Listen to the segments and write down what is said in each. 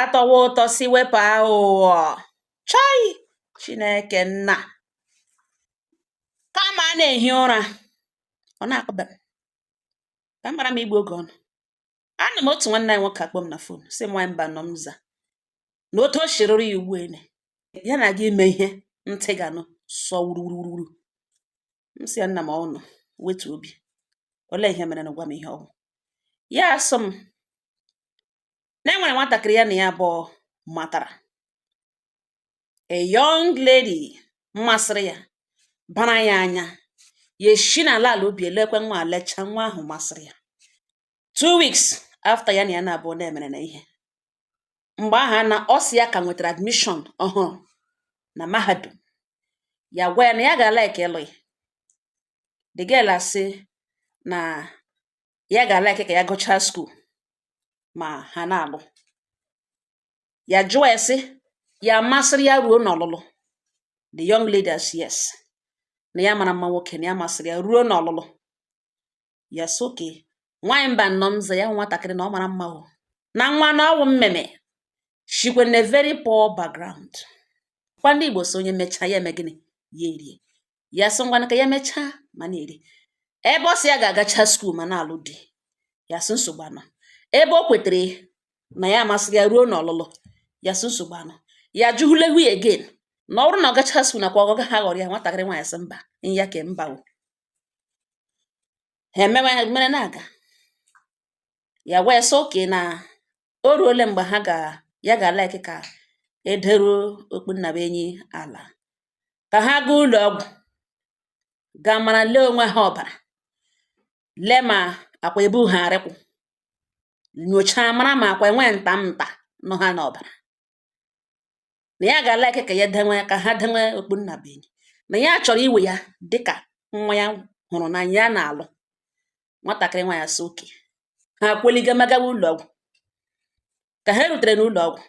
atọwa ụtọ si wepụ aghụghọ chọị chineke nna kama a na-ehi ụra ọ na-akpọba m ka m mara m igbu oge ọnụ anọ m otu nwanne anyị nwoke akpọọ m na fon sị m nwaanyị Mbanọ m za na otu o shi rịrị ya ugbu a na ya na-aga ime ihe ntị ga-anụ sọ wuruwuruwuru m sị ya nna m ọnụ wetu obi olee ihe mere nụ gwa m ihe ọ wụ ya asị m na e nwere nwatakịrị ya na ya abụọ matara a young lady mmasịrị ya bara ya anya ya eshi n'ala ala obi elekwe nwa lecha nwa ahụ masịrị ya two weeks after ya na ya na-abụọ na-emere na ihe mgbe ahụ na ọ sị ya ka nwetara admission ọhụrụ na mahadum ya gwa ya na ya ga like ịlụ ya the girl asị na ya ga like ka ya gụchaa skuul ma ha na-alụ ya jụọ ya sị ya masịrị ya ruo n'ọlụlụ the young lady asị yes na ya mara mma nwoke na ya masịrị ya ruo n'ọlụlụ ya sị oke nwaanyị Mbanọ m za ya wụ nwatakịrị na ọ mara mma o na nwa na ọ wụ mmeme shikwe na very poor background kwa ndị Igbo sị onye mechaa ya eme gịnị ya erie ya sị ngwanụ ka ya mechaa ma na-eri ebe ọ sị ya ga-agacha skuul ma na-alụ di ya sị nsogbu anọ ebe o kwetere na ya masịrị ya ruo n'ọlụlụ ya sị nsogbu anọ ya jụhụle hu ya again na ọ wụrụ na ọ gacha skuul nakwa ọgọga ha ghọrọ ya nwatakịrị nwaanyị sị mba ya ke mba o ha emewe mere na-aga ya wee sị oke na o ruole mgbe ha ga ya ga-alaiki ka e deruo okpu nnabuenyi ala ka ha gaa ụlọ ọgwụ gaa mara lee onwe ha ọbara lee ma akwa ebu ha arịkwụ nyochaa mara ma akwa enwe nta nta nọ ha n'ọbara na ya ga like ka ya dewe ka ha dewe okpu nnabuenyi na ya chọrọ iwe ya dịka nwa ya hụrụ n'anya na-alụ nwatakịrị nwaanyị sị oke ha kweliga magawa ụlọọgwụ ka ha rutere n'ụlọọgwụ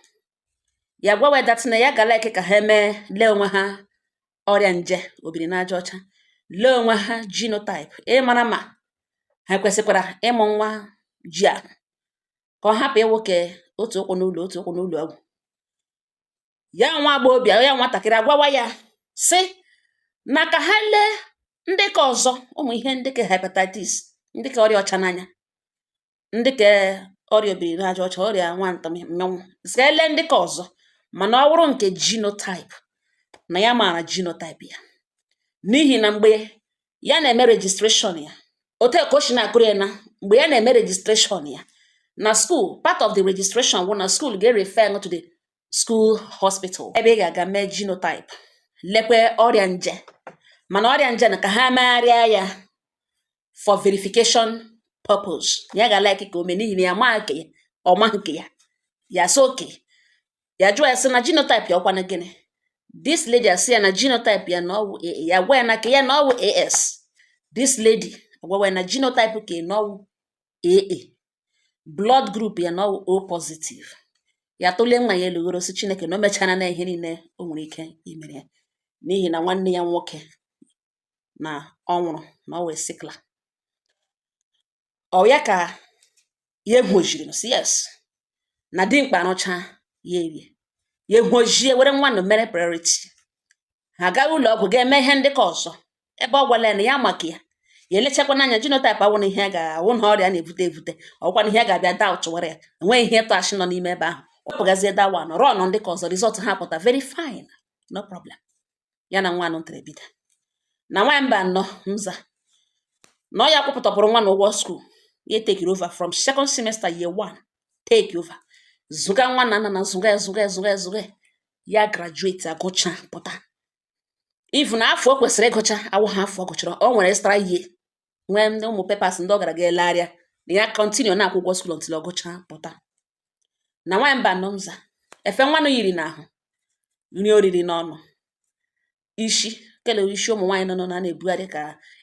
ya gwawa ya that na ya ga like ka ha mee lee onwe ha ọrịa nje obiri n'aja ọcha lee onwe ha genotype ịmara ma ha kwesịkwara ịmụ nwa ji ahụ ka ọ hapụ ịwụ ke otu ụkwụ n'ụlọ otu ụkwụ n'ụlọ ọgwụ ya nwa agbọghọbịa ya nwatakịrị agwawa ya sị na ka ha lee ndị ka ọzọ ụmụ ihe ndị ka hepatitis ndị ka ọrịa ọcha n'anya ndị ka ọrịa obiri n'aja ọcha ọrịa nwanta mmịnwụ sị ka e lee ndị ka ọzọ mana ọ wụrụ nke genotype na ya maara genotype ya n'ihi na mgbe ya na-eme registration ya otu ka o si na-akọrọ ya na mgbe ya na-eme registration ya na school part of the registration wụ na school ga-erefer to the school hospital ebe ị ga-aga mee genotype lekwe ọrịa nje mana ọrịa nje na ka ha megharịa ya for verification purpose ya ga-alike ka o mee n'ihi na ya ma nke ya ọ ma nke ya ya sị okay ya jụọ ya sị na genotype ya wụkwanụ gịnị this lady asị ya na genotype ya na ọ wụ AA ya gwa ya na ke ya na ọ wụ AS this lady agwawa ya na genotype ke ya na ọ wụ AA blood group ya na ọ wụ O positive ya tụlie nwa ya elu ghọrọ sị Chineke na o mecharala ihe niile o nwere ike imere ya n'ihi na nwanne ya nwoke na ọ nwụrụ na ọ wụ a sickler Ọ ya ka ya egwojiri m sị yes na dimkpa rụcha ya erie ya egwojie were nwanụ mere priority ha aga ụlọ ọgwụ ga-eme ihe ndị ka ọzọ ebe ọ gwala ya na ya ma ke ya ya elechakwa n'anya genotype awụ na ihe a ga-awụ na ọrịa na-ebute ebute ọkwa na ihe a ga-abịa doubtụwara ya enweghị ihe ịtụ ashị nọ n'ime ebe ahụ wepụgazie that one nọrọ ọnụ ndị ka ọzọ result ha pụta very fine no problem ya na nwa nụtara bido na nwa Mbano mza na ọ ya kwụpụtapụrụ nwanụ ụgwọ school ya tekiri over from second semester year one take over zụga nwa na nna na zụga ya zụga ya zụga ya zụga ya graduate agụcha pụta even afọ o kwesịrị ịgụcha awụha afọ ọ gụchara o nwere extra year nwee ndị ụmụ papers ndị ọ gara ga edegharịa na ya continue na-akwụ ụgwọ school until ọ gụcha pụta na nwaanyị Mbano mza efe nwanụ yiri n'ahụ nri o riri n'ọnụ isi kelere isi ụmụ nwaanyị nọ na na-ebugharị ka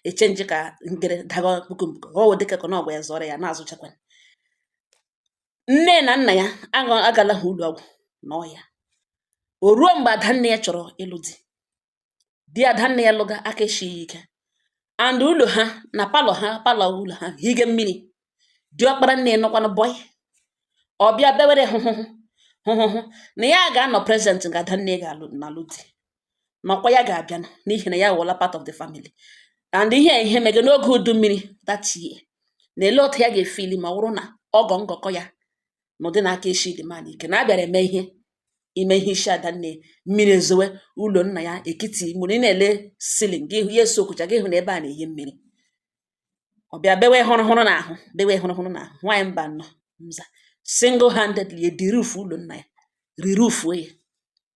echenji ka ngere daga puku mbuko ka ọ wụ dịka ka na ọgwa ya zụrụ ya na-azụchakwa nne na nna ya agala ha ụlọ ọgwụ na ọya o ruo mgbe adanne ya chọrọ ịlụ di di adanne ya lụga aka esighị ike and ụlọ ha na palọ ha palọ ụlọ ha hige mmiri diọkpara nne nọkwanụ boy ọ bịa bewere hụhụhụ hụhụhụ na ya ga-anọ present nga adanne ga-alụ na-alụ di nakwa ya ga-abịa n'ihi na ya wụla part of the family and ihe ihe mege n'oge udu mmiri that year na ele otu ya ga-efili ma ọ wụrụ na ọgọ ngọkọ ya na ụdị na aka eshi the man ike na a bịara eme ihe ime ihe isi ada nne mmiri ezowe ụlọ nna ya ekiti ma ọ wụrụ ị na-ele ceiling gị hụ ya esoakucha gị hụ na ebe a na-ehi mmiri ọ bịa bewe hụrụ hụrụ na ahụ bewe hụrụ hụrụ na ahụ nwaanyị Mbano mza single handedly edirufu ụlọ nna ya rirufuo ya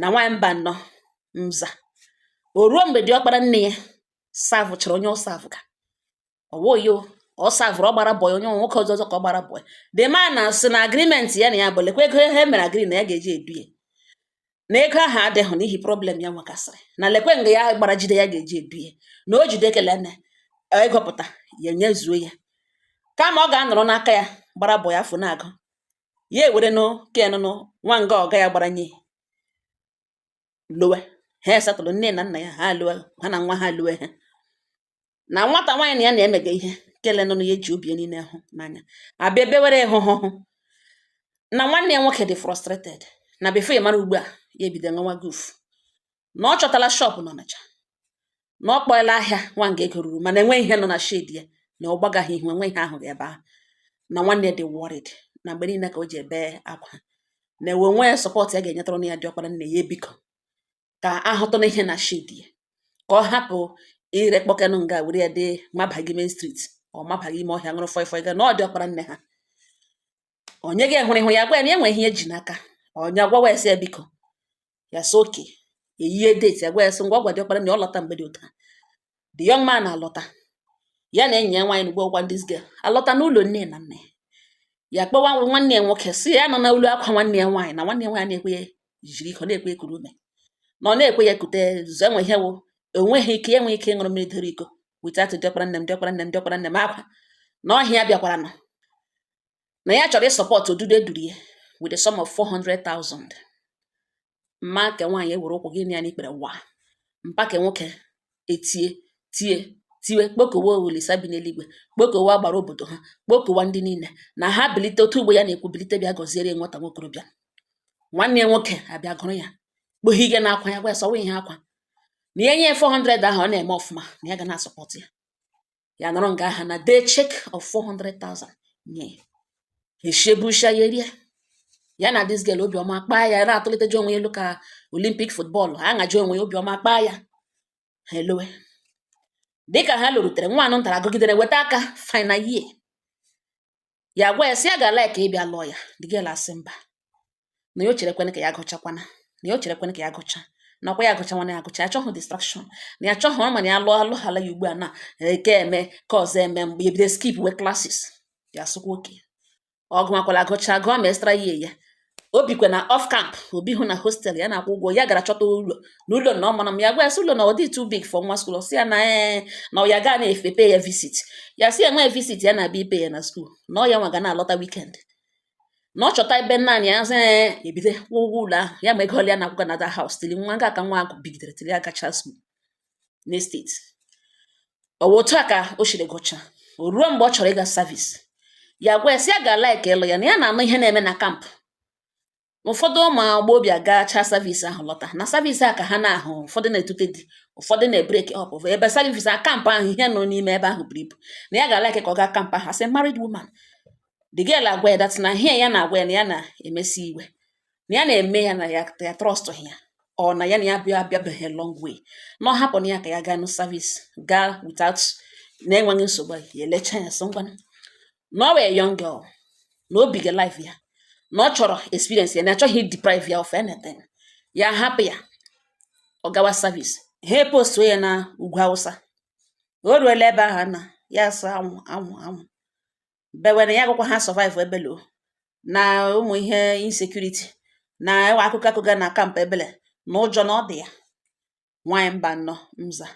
na nwaanyị Mbanọ Nza o ruo mgbe diọkpara nne ya savụchara onye ọ savụga ọwoyo ọ savụrụ ọ gbara bọyị onye nwe nwoke ọzọ ọzọ ka ọ gbara bọyị the man na sị na agreement ya na ya bụ lekwa ego ihe mere agree na ya ga-eji edu ya na ego ahụ adịghị n'ihi problem ya nwekasịrị na lekwe nga ya gbara jide ya ga-eji edu ya na o jide ekele na ego pụta ya nyezuo ya kama ọ ga-anọrọ n'aka ya gbara bọyị afọ na-agụ ya ewerenụ kenụ nwa nga ọga ya gbara nye lowe ha esatụrụ nne na nna ya ha alụọ ha na nwa ha alụọ ha na nwata nwaanyị na ya na-emega ihe kele nụnụ ya ji obi niile hụ n'anya abịa ebe were hụ hụ hụ na nwanne ya nwoke dị frustrated na before ị mara ugbu a ya ebido ṅụwa goof na ọ chọtala shop n'Ọnịcha na ọ kpọela ahịa nwanga ego ruru mana enweghị ihe nọ na shade ya na ọ gbagaghị ihu enweghị ihe ahụghị ebe ahụ na nwanne dị worried na mgbe niile ka o ji ebe akwa na ewe nwee support ya ga-enyetara na ya diọkpara nne ya biko ka a hụtụ na ihe na shade ya ka ọ hapụ ire kpọkenụ nga were ya dị mabaghị main street ọ mabaghị ime ọhịa ṅụrụ fọị fọị ga na ọ diọkpara nne ha onye ga-ehuru ihu ya gwa ya na enweghị ihe e ji n'aka onye agwawa ya sị ya biko ya sị okay e yie date ya agwa ya sị ngwa ọ gwa diọkpara nne ya ọ lọta mgbe dị otu a the young man alọta ya na enyi ya nwaanyị na gwagwa this girl alọta n'ụlọ nne na nna ya ya kpọwa nwanne ya nwoke sị ya nọ na olu akwa nwanne ya nwaanyị na nwanne ya nwaanyị na-ekwe ya jiri iko na-ekwe ya kuru ume na ọ na-ekwe ya kute zụ enwe ihe wụ enweghị ike ya enweghị ike ịṅụrụ mmiri doro iko without diọkpara nne m diọkpara nne m diọkpara nne m akwa na ọhịa bịakwara nọ na ya chọrọ isupport odudu eduru ya with a sum of 400,000 mma nke nwaanyị ewere ụkwụ gị na ya n'ikpere wa mpa nke nwoke etie tie tiwe kpokowe Olisa bi n'eluigwe kpokowe agbara obodo ha kpokowa ndị niile na ha bilite otu ugbo ya na-ekwu bilite bịa gọziere ya nwata nwokorobịa nwanne ya nwoke abịa gụrụ ya kpoghe ihe na-akwa ya gwa ya sọwa ihe akwa na ya nye 400 ahụ ọ na-eme ọfụma na ya ga na-asọpọtụ ya ya nọrọ nga aha na dee cheque of 400,000 nye eshebusha ya erie ya na this girl obi ọma akpaa ya na-atụliteji onwe ya elu ka Olympic football ha ngaji onwe ya obi ọma akpaa ya ha elowe dịka ha lọrutere nwa anụ ntara gụgidere weta aka final year ya gwa ya sị ya ga-ala ka a bịa lụọ ya the girl asị mba na ya o cherekwana ka ya gụchakwana na ya o cherekwana ka ya gụcha nakwa ya gụcha nwana ya gụcha ya chọhụ distraction na ya chọhụ ọ ma na ya lụọ alụ hala ya ugbu a na eke eme ka ọzọ eme mgbe ya bido skipwe classes ya sịkwa okay ọ gụmakwala agụcha gụọ ma extra year o bikwe na off camp o bihụ na hostel ya na-akwụ ụgwọ ya gara chọta ụlọ na ụlọ na ọmana m ya gwa ya sị ụlọ na ọ dị too big for nwa skuul si ya na ee eh, na ya ga na-epe ya visit ya si ya nwee visit ya na-abịa ipe ya na skuul na ọ ya nwa ga na-alọta wikend na ọ chọta ebe naanị ya sị eh, ebido kwụọ ụgwọ ụlọ ahụ ya ma ego ole ya na-akwụga na dat haus tili nwa nga a ka nwa ahụ bigidere tili ya gacha skuul n'esteti ọ wụ otu a ka o siri gụcha o ruo mgbe ọ chọrọ ịga savis ya gwa ya sị ya ga laik ịlụ ya na ya na-anụ ihe na-eme na kampụ ụfọdụ ụmụ agbọghọ bịa gacha savis ahụ lọta na savis a ka ha na-ahụ ụfọdụ na-etute di ụfọdụ na-ebreki ọp ebe savis a kampụ ahụ ihe nọ n'ime ebe ahụ buru ibu na ya ga-alaik ka ọ gaa kampụ ahụ as married woman the girl agwa ya dat na ihe ya na-agwa ya na ya na-emesi iwe na ya na-eme ya na ya ya trọstụghị ya ọ na ya na ya bịa abịabeghị long way na ọ hapụ na ya ka ya gaa n'savis gaa without na-enweghị nsogbu ahụ, ya elecha ya sị ngwa na ọ wụ young girl na o biga life ya na ọ chọrọ experience ya na achọghị deprive ya of anything ya hapụ ya ọ gawa service ha epostuo ya na ugwu awụsa o ruola ebe ahụ na ya asị anwụ anwụ anwụ bewe na ya agakwaha asọvaịvụ ebele o na ụmụ ihe insekuriti na ewe akụkọ akụkọ na kampụ ebele na ụjọ na ọ dị ya nwaanyị mba nnọ mza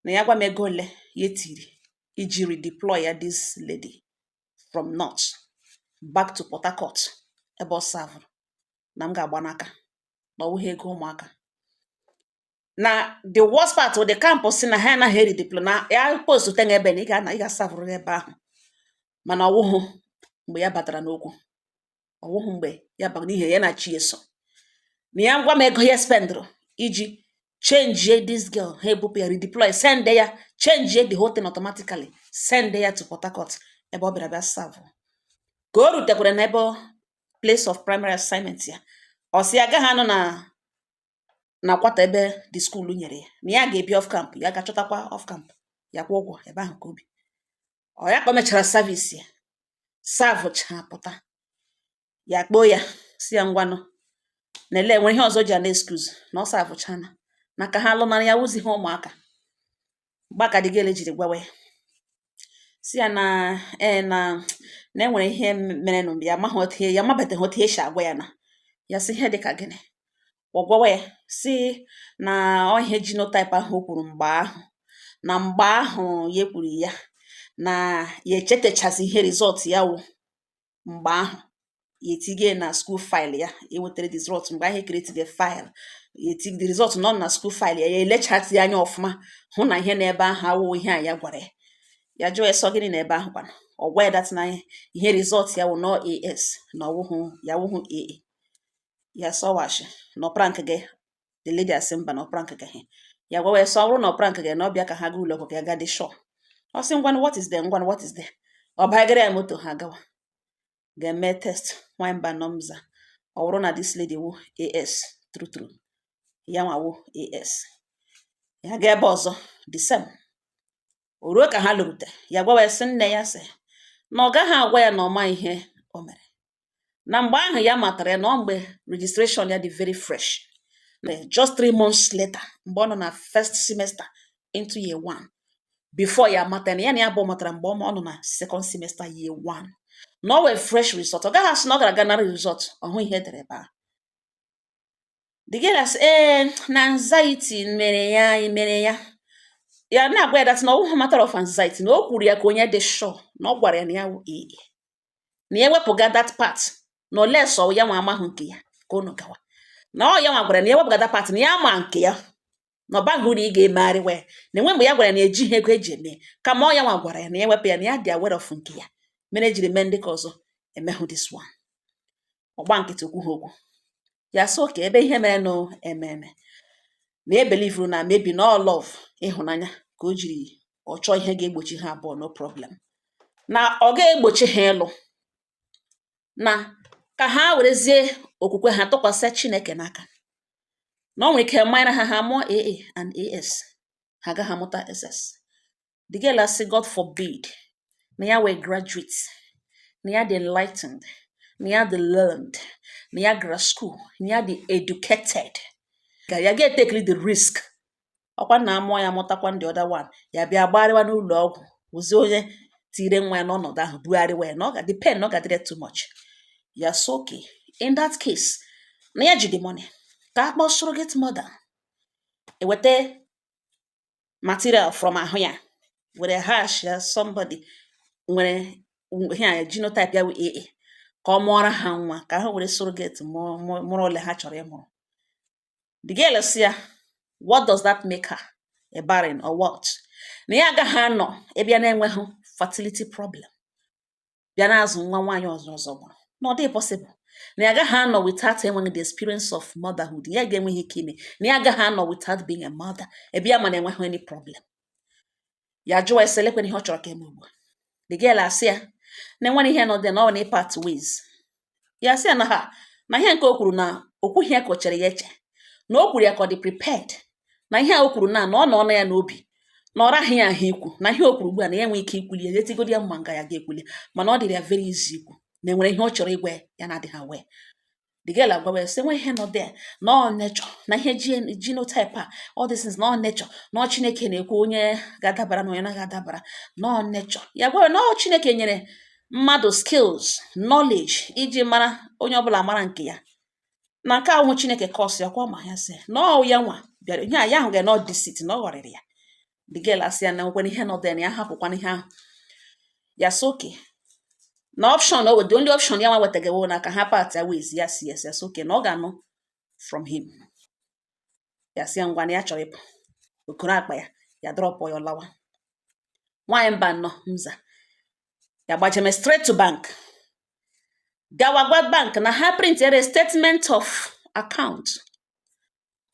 na ya gwa m ego ole ya tiri iji redeploy ya this lady from north back to port harcourt ebe ọ savụrụ na m ga-agba n'aka na ọ wụghị ego ụmụaka na the worst part of the camp si na ha anaghị eredeploy na ya post tenye ebe na ị ga-ana ị ga-asavụrụ ebe ahụ mana ọ wụhụ mgbe ya batara n'okwu ọ wụhụ mgbe ya bara n'ihe ya na chi eso na ya gwa m ego ya spendụrụ iji chenjie this girl ha ebupụ ya redeploy send ya chenjie the whole thing automatically send ya to Port Harcourt ebe ọ bịara bịa savụ ka o rutekwara n'ebe place of primary assignment ya ọ sị ya agaghị anọ na na kwata ebe the school nyere ya na ya ga-ebi off camp ya gaa chọtakwa off camp ya kwụọ ụgwọ ebe ahụ ka o bi ọ ya ka o mechara service ya savụcha pụta ya kpọọ ya sị ya ngwanụ na ele enwere ihe ọzọ ji ana excuse na ọ savụchana na ka ha lụnara ya awụziha ụmụaka mgbe a ka the girl jiri gwawa ya si ya na ee eh, na na enwere ihe mere nụ mgbe ya amaghị otu ihe ya amabeteghị otu esi agwa ya na ya si ihe dịka gịnị ọ gwawa ya si na ọ ihe jinotaip ahụ o kwuru mgbe ahụ na mgbe ahụ ya kwuru ya na ya echetachazi ihe rizọt ya wụ mgbe ahụ ya etige na school file ya ya wetara the result mgbe ahụ e create the file ya etige the result nọ na school file ya ya elechatị ya anya ọfụma hụ na ihe n'ebe ahụ awụghị ihe a ya gwara ya ya jụọ ya sị ọ gịnị n'ebe ahụ kwana ọ gwa ya that na ihe result ya wụ na ọ AS na ya awụhụ AA ya sị ọ wụ ashị na ọ prank ga the lady asị mba na ọ prank gahụ ya gwawa ya sị ọ bụrụ na ọ prank ga na ọ bịa ka ha gaa ụlọ ọgwụ ka ya gaa dị sure ọ sị ngwanụ what is there ngwanụ what is there ọ bagara ya moto ha gawa ga-eme test nwanyị mba nọmza ọ bụrụ na this lady wụ AS true true ya nwa wụ AS ya gaa ebe ọzọ the same o ruo ka ha lọrute ya gwawa ya sị nne ya sị na ọ gaghị agwa ya na ọ ma ihe o mere na mgbe ahụ ya matara ya na ọ mgbe registration ya dị very fresh just three months later mgbe ọ nọ na first semester into year one before ya mata na ya na ya bụ matara mgbe ọ nọ na second semester year one na ọ wụ a fresh result ọ gaghị asị na ọ gara aga nara result ọ hụ ihe e dere ebe ahụ the girl asị ee na anxiety mere ya mere ya ya na-agwa ya that na ọ wụghị matter of anxiety na o kwuru ya ka onye dị sure na ọ gwara ya na ya wụ AA na ya wepụga that part na unless ya nwa amahụ nke ya ka unu gawa na ọ ya nwa gwara na ya wepụga that part na ya ma nke ya na ọ baghị uru ị ga-emegharị wee na e nwe mgbe ya gwara na ejighị ego eji eme kama ọ ya nwa gwara ya na ya wepụ ya na ya dị aware of nke ya mere ejiri mee ndị ka ọzọ emehụ this one ọ gba nkịtị o kwuhụ okwu ya sị okay ebe ihe mere nụ ememe na e belivuru na maybe na ọ love ịhụnanya ka o jiri ọ chọọ ihe ga-egbochi ha abụọ no problem na ọ ga-egbochi ha ịlụ na ka ha werezie okwukwe ha tụkwasị Chineke n'aka na ọ nwere ike mara ha ha mụọ AA and AS ha agaghị amụta SS the girl asị God forbid na ya wụ a graduate na ya dị enlightened na ya dị learned na ya gara school na ya dị educated ka ya ga-etekli the risk ọkwa na amụọ ya mụtakwa the other one ya bịa gbagharịwa n'ụlọ ọgwụ wụzi onye tire nwa ya n'ọnọdụ ahụ bugharịwa ya na ọ ga-adị pain na ọ ga-adịrị too much ya sị okay in that case na ya ji the money ka a kpọọ surrogate mother eweta material from ahụ ya were hash ya somebody nwere ihe a genotype ya wụ AA ka ọ mụọra ha nwa ka ha were surrogate mụrụ ole ha chọrọ ịmụrụ the girl sị ya what does that make her a barren or what na ya agaghị anọ ebe ya na-enweghị fertility problem bịa na-azụ nwa nwaanyị ọzọ ọzọ gbara na ọ dịghị possible na ya agaghị anọ without enweghị the experience of motherhood ya ga-enweghị ike ime na ya agaghị anọ without being a mother ebe ya ma na enweghị any problem ya jụwa ese lekwana ihe ọ chọrọ ka e mee ugbu a the girl asị ya na enwere ihe nọ there na ọ na part ways ya sị ya na ha na ihe nke o kwuru na o kwughị ya ka o chere ya eche na o kwuru ya ka ọ dị prepared na ihe a o kwuru na na ọ nọnụ ya n'obi na ọ raghị ya ahụ ikwu na ihe o kwuru ugbu a na ya enwe ike ikwuli ya etigodi ya mma nga ya ga-ekwuli mana ọ dịrị ya very easy ikwu na enwere ihe ọ chọrọ ịgwa ya na-adịghị aware the girl agwawa ya sị nwe ihe nọ there na ọ nature na ihe genotype a all these things na ọ nature na ọ chineke na-ekwu onye ga-adabara na onye na-agaghị adabara na ọ nature ya gwawa na ọ chineke nyere mmadụ skills knowledge iji mara onye ọbụla mara nke ya na nke ahụ chineke cause ya kwa ma ya sị na ọ ya nwa bịara ihe a ya ahụ ga na ọ deceit na ọ ghọrịrị ya the girl asị ya na nwekwana ihe nọ there na ya hapụkwana ihe ahụ ya sị okay na option ọ wụ the only option ya nwa wetagewo na ka ha partịa ways ya si ya si ya sị okay na ọ ga-anụ from him ya sị ya ngwa na ya chọrọ ịpụ o koro akpa ya ya dropụ ya ọ lawa nwaanyị mba nọ mza ya gbajeme straight to bank gawa gwa bank na ha printiere statement of account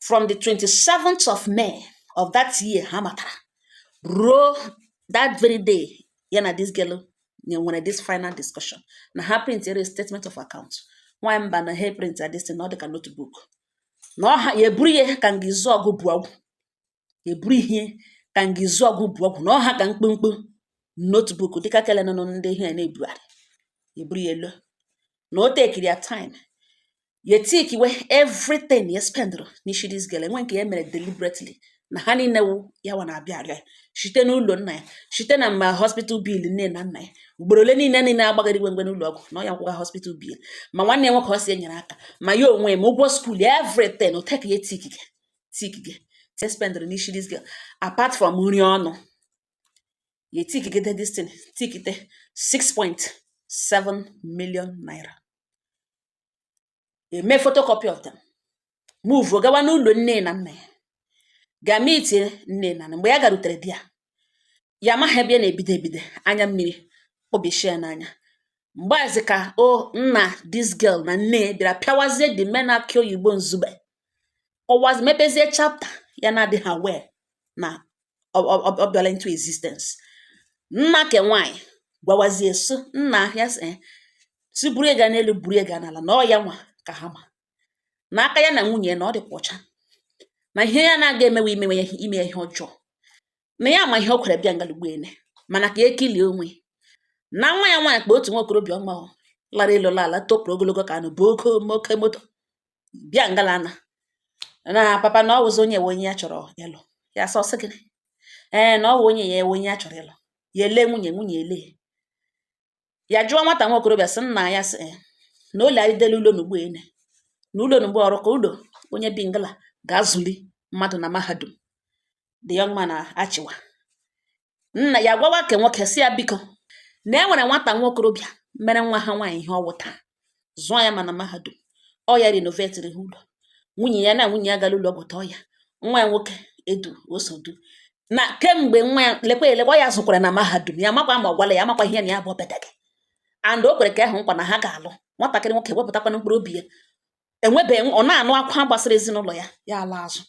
from the 27th of May of that year ha matara ruo that very day ya na this girl nwere this final discussion na ha printiere statement of account nwaanyị mba na ha print this thing na ọ dị ka notebook na ọ ha ya eburu ihe ka nga izu ọgụ bụ ọgwụ ya eburu ihe ka nga izu ọgụ bụ ọgwụ na ọ ha ka mkpụmkpụ notebook dịka kele nọ ndị ihe na-ebugharị ya eburu ya lọ na o tekiri ya time ya tikiwe everything ya spendụrụ n'isi this girl nwe nke ya mere deliberately na ha niile wụ ya nwa na-abịa arịa site n'ụlọ nna ya site na mma hospital bill nne na nna ya ugboro ole niile niile agbagara igwe mgbe n'ụlọ ọgwụ na ọ ya kwụga hospital bill ma nwanne ya nwoke ọ si enyere aka ma ya onwe ma ụgwọ school everything o take ya tikigi tikigide spendịrị n'isi this girl apart from nri ọnụ ya tikigide this thing tikite 6.7 million naira e mee photocopy of them move gawa n'ụlọ nne na nna ya ga meetie nne na nna mgbe ya garutere there ya amaghị ebe ya na-ebido ebido anya mmiri obi shia n'anya mgbe ahụzi ka o nna this girl na nne bịara pịawazie the man akị oyibo nzube kọwazi mepezie chapter ya na-adịghị aware na ọ ọ- ọ- ọ bịala into existence nna ke nwaanyị gwawazie so nna ya sị eh, si buru ya gaa n'elu buru ya gaa n'ala na ọ ya nwa ka ha ma na aka ya na nwunye ya na ọ dịkwa ọcha na ihe ya na-aga emewe imewe ya ime ya ihe ọjọọ na ya ma ihe o kwere bịa nga l'ugbu ene mana ka ekilie onwe na nwa ya nwaanyị kpa otu nwa okorobịa ọma ọ lara elu la ala topụrụ ogologo ka anụ bu oke oke moto bịa ngala na na papa na ọ wụzị onye wụ onye ya chọrọ ịlụ ya sị ọ sị gịnị ee na ọ wụ onye a wụ onye ya chọrọ ịlụ ya ele nwunye nwunye ele ya jụọ nwata nwa okorobịa sị nna ya sị "Eh, na ụlọ anyị delu ụlọ n'ugbu ene na ụlọ n'ugbo ọrụ ka ụlọ onye bi ngala ga-azụli mmadụ na mahadum the young man achịwa nna ya gwawa ke nwoke si ya biko na e nwere nwata nwa okorobịa mere nwa ha nwaanyị ihe ọ wụ taa zụọ ya ma na mahadum ọ ya renovetiri ha ụlọ nwunye ya na nwunye ya gara ụlọ ọgwụ tọọ ya nwa ya nwoke edu osodu na kemgbe nwa ya lekwa elekwa ya zụkwara na mahadum ya makwa ma ọ gwala ya makwa ihe na ya bụ ọbịa gị and o kwere ke ahụ nkwa na ha ga-alụ nwatakịrị nwoke wepụtakwana mkpụrụ obi ya enwebeghị ọ na-anụ akwa gbasara ezinụlọ ya ya ala azụ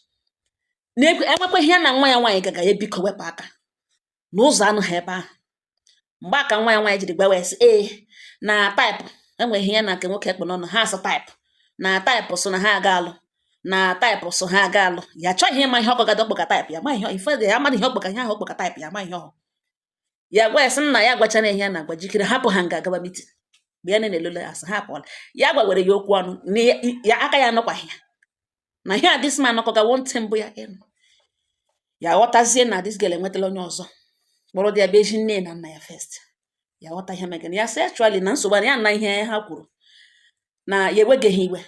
enwekweghị ihe ya na nwa ya nwaanyị gaga ya biko wepụ aka na ụzọ anụ ha ebe ahụ mgbe aka nwa ya nwaanyị jiri gbawa isi ee na taịpụ enweghị ihe ya na nke nwoke ekpe n'ọnụ ha asụ taịpụ na taịpụ so na ha aga alụ na taịpụ so ha aga alụ ya chọghị ịma ihe ọkpọga dọkpọga taịpụ ya ma ihe ife ya amadị ihe ọkpọga ihe ahụ ọkpọga taịpụ ya ma ihe ọhụ ya gwa ya sị nna ya gwachara ihe ya na-agwa jikere hapụ ha nga gaba meeting mgbe ya na-elele asị ha pụọla ya gwagwere ya okwu ọnụ na ya ya- aka ya anọkwaghị ya na ihe a this man nọkọgawo ntị mbụ ya ịnụ ya ghọtazie na this girl enwetala onye ọzọ kpọrọ dị ya bụ ezi nne na nna ya first ya ghọta ihe megana ya sị actually na nsogbu a na ya na ihe ha kwuru na ya ewegeghị iwe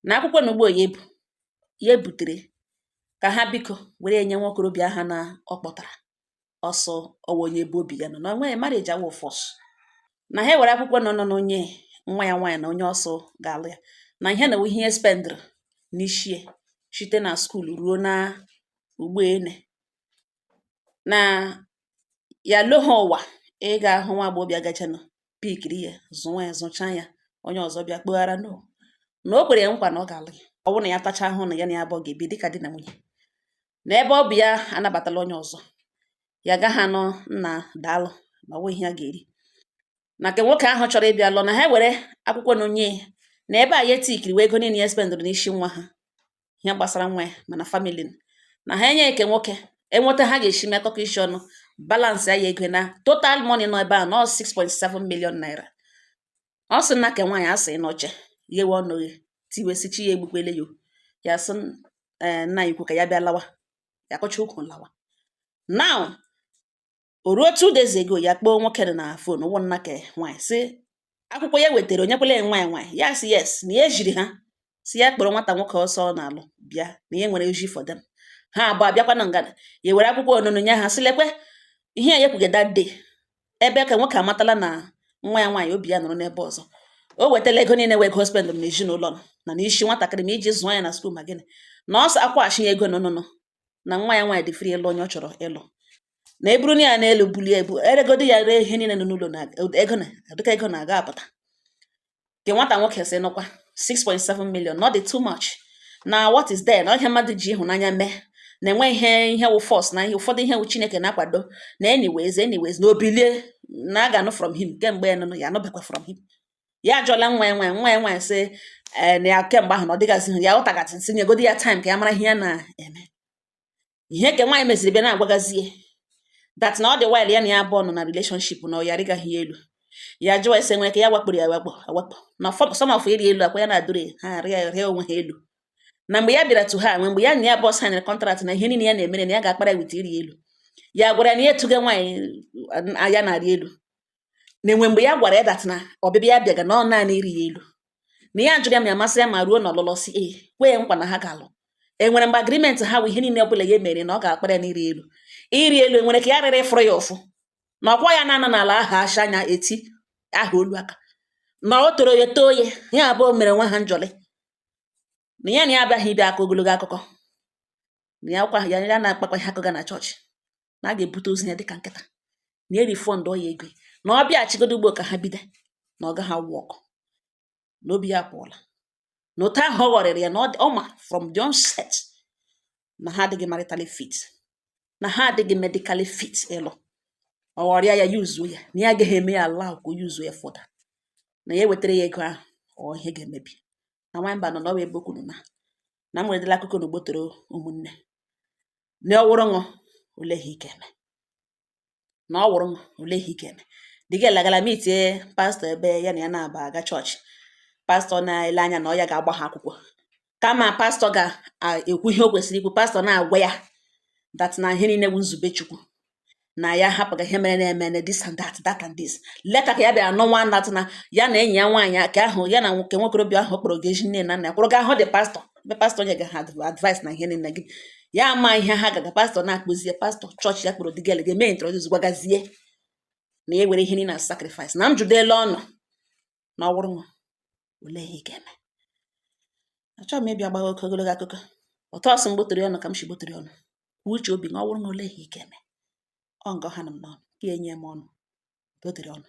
na akwụkwọ na ugbo ya ebu ya ebutere ka ha biko were ya nye nwa okorobịa ahụ na ọ kpọtara ọ sị ọ wụ onye ebe obi ya nọ anyway marriage awụ force na ha ewere akwụkwọ nọ nọ na onye nwa ya nwaanyị na onye ọ sị ga-alụ ya na ihe na ihe ya spendịrị n'ishi ya site na school ruo na ugbu ene na ya lo ha ụwa ịga ahụ nwa agbọghọbịa gachanụ pikiri ya zụwa ya zụchaa ya onye ọzọ bịa kpụghara no na o kwere ya nkwa na ọ ga-alụ ya ọ bụrụ na ya tacha ahụ na ya na ya abụọ ga-ebi dịka di na nwunye na ebe ọ bụ ya anabatala onye ọzọ ya gaghị anọ nna daalụ ma nwe ihe a ga-eri na nke nwoke ahụ chọrọ ịbịa lụọ na ha were akwụkwọ nye ya na ebe a ya etikiri wee ego niile ya spendụrụ n'isi nwa ha ihe gbasara nwa ya ma na family na ha enye nke nwoke enweta ha ga-esi metọkọ isi ọnụ balansị ya ego na total money nọ ebe a nọ 6.7 million naira ọ sị nna ke nwaanyị a si n'oche ghewe ọnụ ghe tiwe sị chi ya egbukwele ya ya sị eh, nna ukwu ka ya bịa lawa ya kọcha ụkwụ lawa now o ruo two days ago ya kpọọ nwoke nụ na phone ọ wụ nna ke nwaanyị sị akwụkwọ ya wetara o nyekwele nwa ya nwaanyị ya sị yes na ya ejiri ha sị ya kpọrọ nwata nwoke ọ sị ọ na-alụ bịa na ya nwere ozi for them ha abụọ abịakwa na ngada ya were akwụkwọ onunu nye ha sị lekwe ihe ya kwuga that day ebe ke nwoke amatala na nwa ya nwaanyị obi ya nọrọ n'ebe ọzọ o wetala ego niile wụ ego spendụ m n'ezinụlọ nụ na n'isi nwatakịrị ma iji zụọ ya na school ma gịnị na ọ sị a kwụghachi ya ego nụnụnụ na nwa ya nwaanyị dị free ịlụ onye ọ chọrọ ịlụ na eburu na ya n'elu bulie ebu eregodi ya ree ihe niile nọ n'ụlọ na ego na dịka ego na-aga apụta nke nwata nwoke sị nụkwa 6.7 million not too much na what is there na ihe mmadụ ji ịhụnanya mee na e nweghị ihe wụ force na ihe ụfọdụ ihe wụ chineke na-akwado na anyways anyways na o bilie na a ga-anụ from him kemgbe ya nụnụ ya anụbekwa from him ya ajụọla nwa ya nwaanyị nwa ya nwaanyị sị ee na ya kemgbe ahụ na ọ dịgasị hụ ya ọtagasị nsị nyegodi ya time ka ya mara ihe ya na-eme ihe ke nwaanyị meziri bịa na-agwagazie that na ọ dị while ya na ya abụọ nọ na relationship na ọ ya rịgaghị elu ya jụọ ese e nwere ke ya wakporo ya wakpo awakpo na some of ịrị elu akwa ya na-adụrụ ha arịa rịa onwe ha elu na mgbe ya bịara to her e nwere mgbe ya na ya abụọ banyere contract na ihe niile ya na-emere na ya ga-akpara with ịrị elu ya gwara na ya etuga nwaanyị ya na-arị elu na e nwere mgbe ya gwara ya that na ọbịbịa ya bịaga na ọ naanị ịrị ya elu na ya jụrụ ya ma ya masị ya ma ruo na ọlụlụ ọ sị ee kwee nkwa na ha ga-alụ enwere mgbe agreement ha bụ ihe niile ọbụla ya mere na ọ ga-akpara ya na ịrị elu ịrị elu enwere ke ya rịrị fụrụ ya ụfụ na ọkwa ya na-anọ n'ala aha asha anya eti aha olu aka na ọ tọrọ ya tọọ ya ya abụọ mere onwe ha njọlị na ya na ya abịaghị ịbịa akọ ogologo akụkọ na ya kwa ya ya na-akpakwa ihe a kụga na chọọchị na a ga-ebute ozu ya dịka nkịta na e refundụọ ya ego ya. na ọ bịaghachigodo ugbo ka ha bido na ọ gaghị aworkụ na obi ya pụọla na otu ahụ ọ ghọrịrị ya na ọ dị- ọ ma from the onset na ha adịghị maritally fit na ha adịghị medically fit ịlụ ọ ghọrịa ya yuzuo ya na ya agaghị eme ya allow ka o yuzuo ya further na ya ewetara ya ego ahụ ọ ihe ga-emebi na nwanyị mba nọ na ọ bụ ebe okwuru na na m weredela akụkọ na ugbotoro ụmụnne na ọ wụrụ unu olee ihe ị ka eme na ọ wụrụ unu olee ihe ị ka eme the girl agala meetie pastọ ebe ya na ya na-aba aga chọọchị pastọ na-ele anya na ọ ya ga-agba ha akwụkwọ kama pastọ ga-ekwu ihe o kwesịrị ikwu pastọ na-agwa ya that na ihe niile bụ nzube chukwu na ya hapụga ihe mere na-eme this and that that and this later ka ya bịara nụwa that na ya na enyi ya nwaanyị ke ahụ ya na nwoke nwokorobịa ahụ kpọrọ gị ezi nne na nna ya kwụrụ ga hụ the pastọ ebe pastọ nyega ha advice na ihe niile gị ya ama ihe ha gaga pastọ na-akpụzie pastọ chọọchị ya kpọrọ the girl ga-eme introduce gwagazie na ya were ihe niile na sacrifice na m jụdela ọnụ na ọwụrụ nwa olee ihe ị ga-eme achọghị m ịbịa gbawa oke ogologo akụkọ otu ọ sị m gbotụrụ ọnụ ka m si gbotụrụ ọnụ kwuo uche obi na ọwụrụ nwa olee ihe ị ga-eme ọ nga ọ hanụ m n'ọnụ ka enye m ọnụ gbotụrụ ọnụ